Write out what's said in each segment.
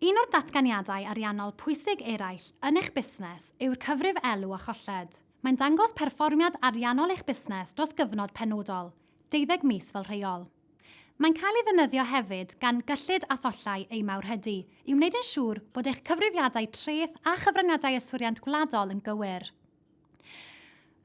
Un o'r datganiadau ariannol pwysig eraill yn eich busnes yw'r cyfrif elw a cholled. Mae'n dangos perfformiad ariannol eich busnes dros gyfnod penodol, deuddeg mis fel rheol. Mae'n cael ei ddefnyddio hefyd gan gyllid a thollau eu mawrhydi i wneud yn siŵr bod eich cyfrifiadau treth a chyfraniadau yswiriant gwladol yn gywir.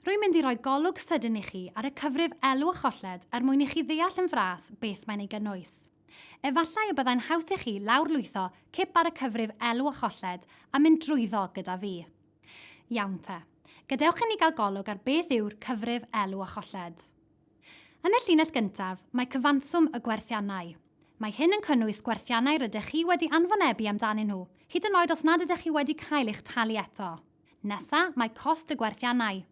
Rwy'n mynd i roi golwg sydyn i chi ar y cyfrif elw a cholled er mwyn i chi ddeall yn fras beth mae'n ei gynnwys. Efallai y byddai'n haws i chi lawrlwytho cip ar y cyfrif elw a cholled a mynd drwyddo gyda fi. Iawn te. Gadewch inni gael golwg ar beth yw'r cyfrif elw a cholled. Yn y llinell gyntaf, mae cyfanswm y gwerthiannau. Mae hyn yn cynnwys gwerthiannau rydych chi wedi anfonebu amdanyn nhw, hyd yn oed os nad ydych chi wedi cael eich talu eto. Nesa, mae cost y gwerthiannau.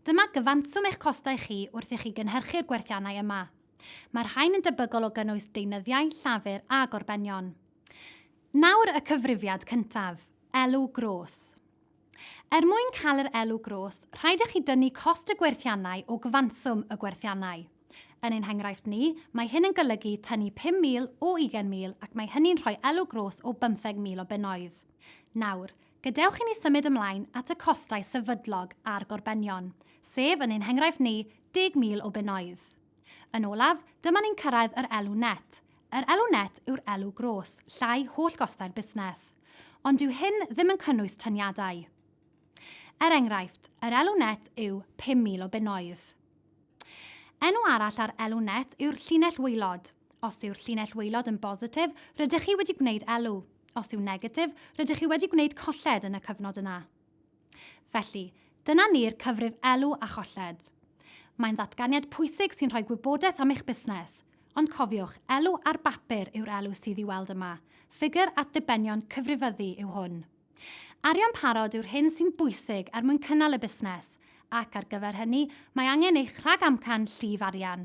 Dyma gyfanswm eich costau chi wrth i chi gynhyrchu'r gwerthiannau yma. Mae'r rhain yn debygol o gynnwys deunyddiau, llafur a gorbenion. Nawr y cyfrifiad cyntaf, elw gros. Er mwyn cael yr elw gros, rhaid i chi dynnu cost y gwerthiannau o gyfanswm y gwerthiannau. Yn ein henghraifft ni, mae hyn yn golygu tynnu 5,000 o 20,000 ac mae hynny'n rhoi elw gros o 15,000 o bunnoedd. Nawr, Gadewch i ni symud ymlaen at y costau sefydlog a'r gorbenion, sef, yn ein henghraifft ni, 10,000 o bunnoedd. Yn olaf, dyma ni'n cyrraedd yr elw net. Yr elw net yw'r elw gros, llai holl gostau'r busnes. Ond dyw hyn ddim yn cynnwys triniadau. Er enghraifft, yr elw net yw 5,000 o bunnoedd. Enw arall ar elw net yw'r llinell waelod. Os yw'r llinell waelod yn bositif, rydych chi wedi gwneud elw. Os yw'n negatif, rydych chi wedi gwneud colled yn y cyfnod yna. Felly, dyna ni'r cyfrif elw a cholled. Mae'n ddatganiad pwysig sy'n rhoi gwybodaeth am eich busnes. Ond cofiwch, elw ar bapur yw'r elw sydd i'w weld yma. Ffigur at ddibenion cyfrifyddu yw hwn. Arian parod yw'r hyn sy'n bwysig er mwyn cynnal y busnes, ac ar gyfer hynny, mae angen eich rhagamcan llif arian.